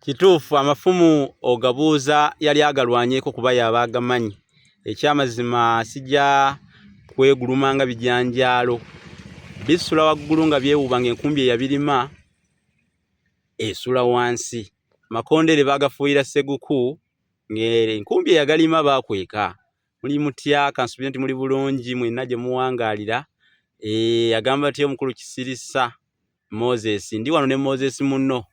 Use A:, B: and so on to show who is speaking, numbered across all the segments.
A: kituufu amafumu ogabuuza yali agalwanyeko kuba yaba agamanyi ekyamazima sija kweguluma nga bijanjaalo bisula waggulu nga byewuba nga enkumbi eyabirima esula wansi makondere bagafuuyira seguku ngaenkumbi eyagalima bakweka muli mutya kansubire nti muli bulungi mwena gye muwangaalira e, agamba atya omukulu kisirisa moses ndi wano ne moses munno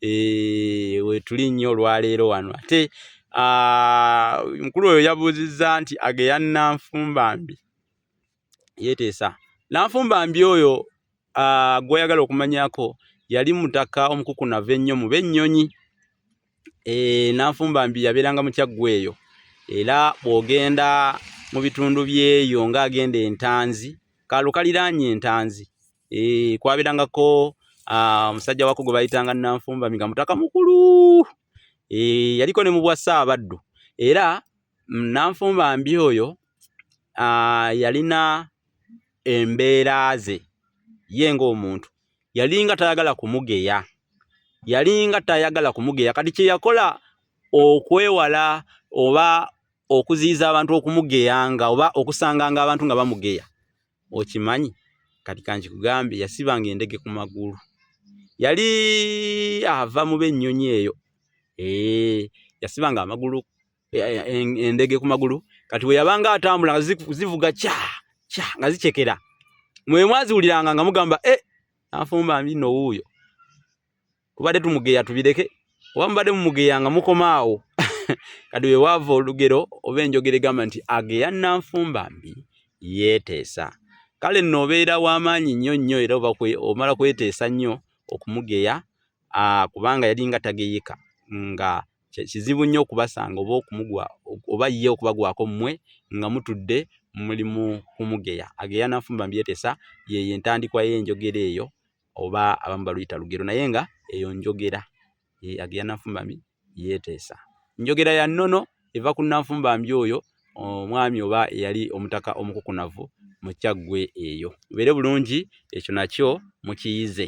A: e, wetuli nnyo olwaleero wano ate mukulu oyo yabuuzizza nti ageya nanfumbambi yeteesa nanfumbambi oyo gwoyagala okumanyako yali mutaka omukukunava ennyo mu bennyonyi e, nanfumbambi yabeeranga mukyaggw eyo era bwogenda mu bitundu byeyo nga agenda entanzi kaalo kaliraanye entanzi Eh, kwabirangako ah, omusajja wako gwe bayitanga Nanfumba Miga mutaka mukulu. Eh, yaliko ne mu bwa Ssaabaddu. Era mm, Nanfumba mbi oyo ah, yalina embeera ze ye ng'omuntu yalinga tayagala kumugeya yalinga tayagala kumugeya kati kye yakola okwewala oba okuziyiza abantu okumugeyanga oba okusanganga abantu nga bamugeya okimanyi kati kankikugambye yasibanga endege ku magulu yali ava mu b'ennyonyi eyo ee yasibanga amagulu e, e, e, endege ku magulu kati bwe yabanga atambula nga zivuga kya kya nga zikyekera mwe mwaziwuliranga nga mugamba e eh, nafumba mbino wuuyo tubadde tumugeya tubireke oba mubadde mumugeya nga mukomaawo kati wewaava olugero oba enjogera egamba nti ageya nanfumba mbi yeeteesa kale nno obeera w'amaanyi nnyo nnyo era omala kweteesa nnyo okumugeya kubanga yalinga tageyeka nga kizibu nnyo okubasanga oba okumugwa oba ye okubagwako mmwe nga mutudde mulimu kumugeya ageya nanfumba mbi yeeteesa yeyo entandikwa y'enjogera eyo oba abamu baluyita lugero naye nga eyo njogera agera nanfumbambi yeeteesa njogera ya nnono eva ku nanfumbambi oyo omwami oba eyali omutaka omukukunavu mu kyaggwe eyo mubeere bulungi ekyo nakyo mukiyize